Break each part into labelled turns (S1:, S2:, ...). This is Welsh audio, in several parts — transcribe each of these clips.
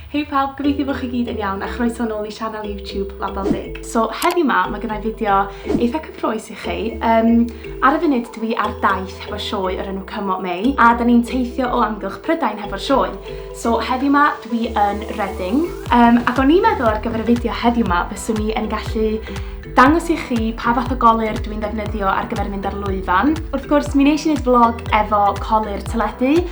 S1: Hei pawb, gobeithio bo chi gyd yn iawn a chroeso nôl i sianel YouTube Label Deg. So heddiw 'ma ma' gynna i fideo eitha cyffrous i chi. Yym ar y funud dwi ar daith hefo sioe o'r enw Come What May a 'dan ni'n teithio o amgylch Prydain hefo'r sioe. So heddiw 'ma dwi yn Reading yym ac o'n i'n meddwl ar gyfer y fideo heddiw 'ma fyswn i yn gallu dangos i chi pa fath o golir dwi'n ddefnyddio ar gyfer mynd ar lwyfan. Wrth gwrs mi nesh i neud vlog efo colu'r teledu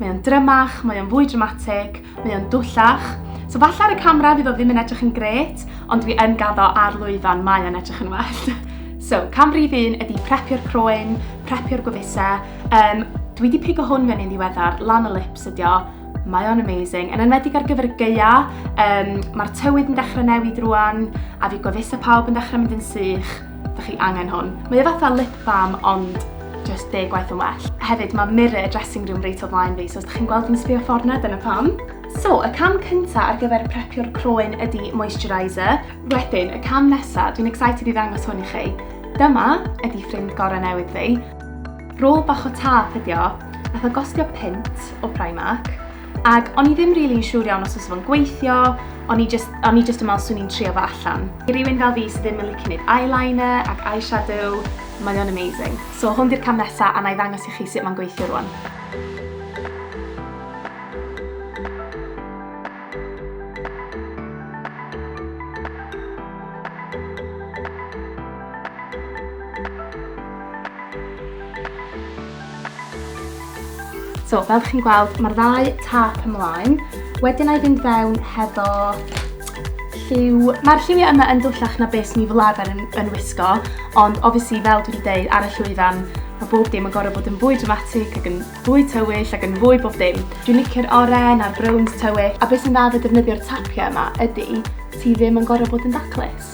S1: Mae o'n drymach, mae o'n fwy dramatig, mae o'n dwllach. So falle ar y camera fydd o ddim yn edrych yn gret, ond dwi yn gaddo ar lwyfan, mae o'n edrych yn well. So, cam rhif un ydy prepio'r croen, prepio'r gwefuse. Um, dwi wedi pigo hwn fyny'n ddiweddar, lan y lips ydi o. Mae o'n amazing. Yn enwedig ar gyfer y geia, um, mae'r tywydd yn dechrau newid rwan, a fi gwefuse pawb yn dechrau mynd yn sych. Dych chi angen hwn. Mae o fatha lip balm ond just deg gwaith yn well. Hefyd, mae mirror dressing room reit o flaen fi, so os ydych chi'n gweld yn sbio ffordd na, dyna pam. So, y cam cynta ar gyfer prepio'r croen ydy moisturiser. Wedyn, y cam nesa, dwi'n excited i ddangos hwn i chi. Dyma ydy ffrind gorau newydd fi. Rôl bach o tap ydi o, nath o gostio pint o Primark, Ac o'n i ddim rili yn siŵr iawn os oes fo'n gweithio, o'n i just, o'n i just yn meddwl swn i'n trio fo allan. I rywun fel fi sydd ddim yn licio neud eyeliner ac eyeshadow, mae o'n amazing. So hwn di'r cam nesa a na i ddangos i chi sut mae'n gweithio rwan. So, fel chi'n gweld, mae'r ddau tap ymlaen. Wedyn a'i fynd fewn hefo lliw. Mae'r lliwiau yma yn dwllach na beth ni fel arfer yn, yn wisgo, ond obviously, fel dwi wedi dweud, ar y llwyfan, mae bob dim yn gorau bod yn fwy dramatic ac yn fwy tywyll ac yn fwy bob dim. Dwi'n licio'r oren a'r browns tywyll, a beth sy'n dda fe defnyddio'r tapiau yma ydy ti ddim yn gorau bod yn daclus.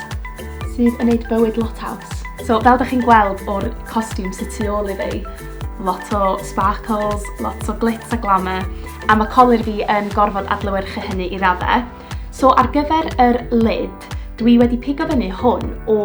S1: sydd yn neud bywyd lot haws. So fel da chi'n gweld o'r costiwm sydd tu ôl i fi, lot o sparkles, lot o glitz a glamour, a mae colir fi yn gorfod adlywyrchu hynny i raddau. So ar gyfer yr lid, dwi wedi pigo fyny hwn o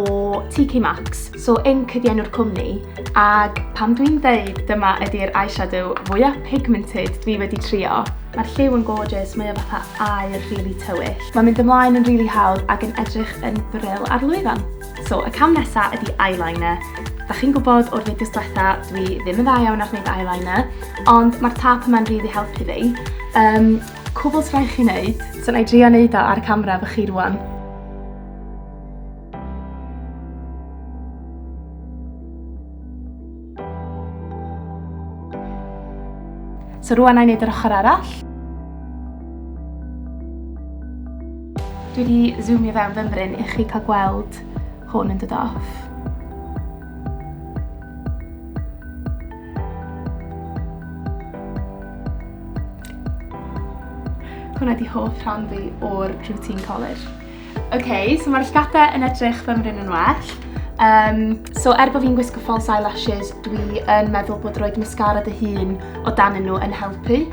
S1: TK Maxx. So Ink ydi enw'r cwmni, ag pan dwi'n deud dyma ydi'r eyeshadow fwyaf pigmented dwi wedi trio, mae'r lliw yn gorgeous, mae o fatha air rili really tywyll. Mae'n mynd ymlaen yn rili really hawdd ac yn edrych yn bril ar lwyfan. So, y cam nesa ydi eyeliner. Da chi'n gwybod o'r fideos diwetha, dwi ddim yn dda iawn ar wneud eyeliner, ond mae'r tap yma'n rili really helpu fi. Um, cwbl sy'n rhaid chi wneud, so na i drio wneud o ar camera fy chi rwan. So rwan a'i wneud yr ochr arall. Dwi wedi zoomio fewn fymryn i chi cael gweld hwn yn dod off. Hwna di hoff rhan fi o'r routine collar. Ok, so mae'r llgapau yn edrych fy mryn yn well. Um, so er bod fi'n gwisgo false eyelashes, dwi yn meddwl bod roed mascara dy hun o dan nhw yn helpu.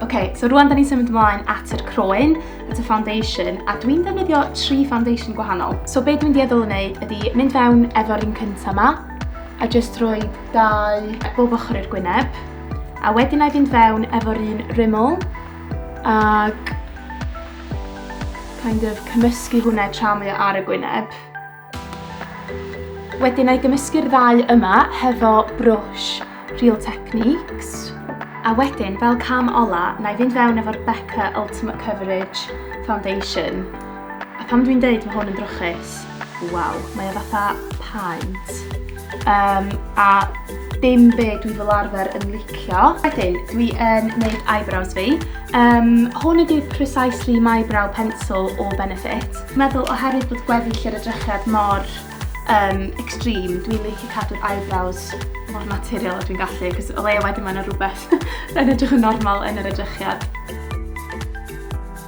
S1: Ok, so rwan da ni'n symud ymlaen at yr croen, at y foundation, a dwi'n defnyddio tri foundation gwahanol. So be dwi'n dieddol yn wneud ydy mynd fewn efo'r un cyntaf yma, a jyst rhoi dau bob ochr i'r gwyneb, a wedyn na i fynd fewn efo'r un rymol, ac kind of cymysgu hwnna tra mae o ar y gwyneb. Wedyn na i gymysgu'r ddau yma hefo brwsh Real Techniques. A wedyn, fel cam ola, na i fynd fewn efo'r Becca Ultimate Coverage Foundation. A pam dwi'n deud mae hwn yn drwchus? Waw, mae o fatha paent. Um, a dim be dwi fel arfer yn licio. Wedyn, dwi yn neud eyebrows fi. Um, hwn ydy'r Precisely My Brow Pencil o Benefit. Meddwl oherwydd bod gweddill yr edrychiad mor um, extreme, dwi'n licio cadw'r eyebrows mor naturiol a dwi'n gallu, cos o leia wedyn mae'n rhywbeth yn edrych yn normal yn yr edrychiad.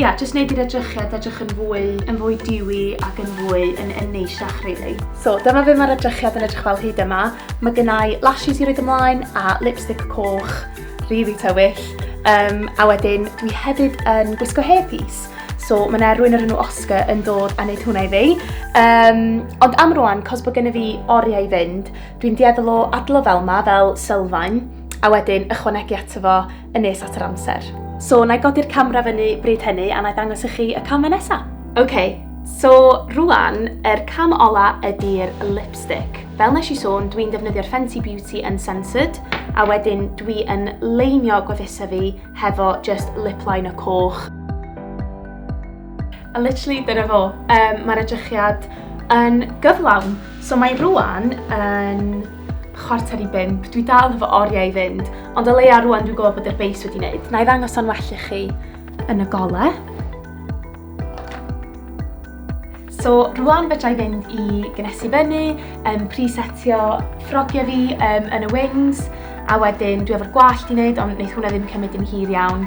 S1: Ia, jyst neud i'r edrychiad edrych yn fwy, yn fwy diwy ac yn fwy yn, yn neisiach, really. So, dyma fe mae'r edrychiad yn edrych fel hyd yma. Mae gennau lashes i roed ymlaen a lipstick coch, really tywyll. Um, a wedyn, dwi hefyd yn gwisgo hairpiece. So mae yna rwy'n yr enw Oscar yn dod a wneud hwnna i fi. Um, ond am rwan, cos bod gen i fi oriau i fynd, dwi'n dieddol o adlo fel ma, fel sylfaen, a wedyn ychwanegu ato fo yn nes at yr amser. So, na i godi'r camera fyny bryd hynny a na i ddangos i chi y camau nesa. OK, so rwan, yr er cam ola ydy'r lipstick. Fel nes i sôn, dwi'n defnyddio'r Fenty Beauty Uncensored, a wedyn dwi yn leinio gwefusau fi hefo just lip liner coch. A literally, dyna fo. Um, Mae'r edrychiad yn gyflawn. So mae rwan yn chwarter i bimp. Dwi dal efo oriau i fynd, ond o leia rwan dwi'n gwybod bod yr beis wedi wneud. Na i ddangos o'n well i chi yn y gole. So rwan fedra i fynd i gynesu fyny, um, presetio ffrogiau fi um, yn y wings, a wedyn dwi efo'r gwallt i wneud, ond wneud hwnna ddim cymryd yn hir iawn.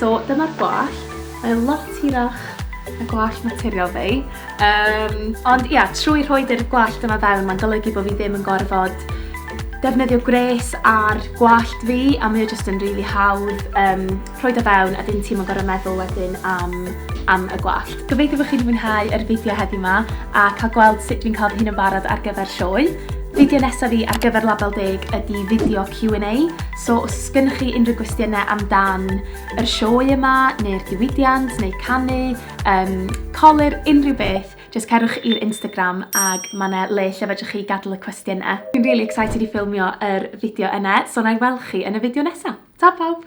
S1: So dyma'r gwallt, mae o lot hirach na gwallt naturiol fi. Um, ond ia, trwy rhoi dy'r gwallt yma fewn, mae'n golygu bod fi ddim yn gorfod defnyddio gwres ar gwallt fi a mae o jyst yn rili really hawdd um, rhoi da fewn a ddim ti'n gorau meddwl wedyn am, am y gwallt. Gobeithio bod chi'n mwynhau yr fideo heddi yma a cael gweld sut dwi'n cael fy hun yn barod ar gyfer sioe. Fideo nesaf fi ar gyfer label deg ydy fideo Q&A So os oes gennych chi unrhyw gwestiynau amdan yr sioe yma, neu'r diwydiant, neu canu, um, colir, unrhyw beth, jyst cerwch i'r Instagram ag mae yna le lle fedrwch chi gadw y cwestiynau. Dwi'n really excited i ffilmio yr fideo yna, so na i weld chi yn y fideo nesaf. Ta pawb!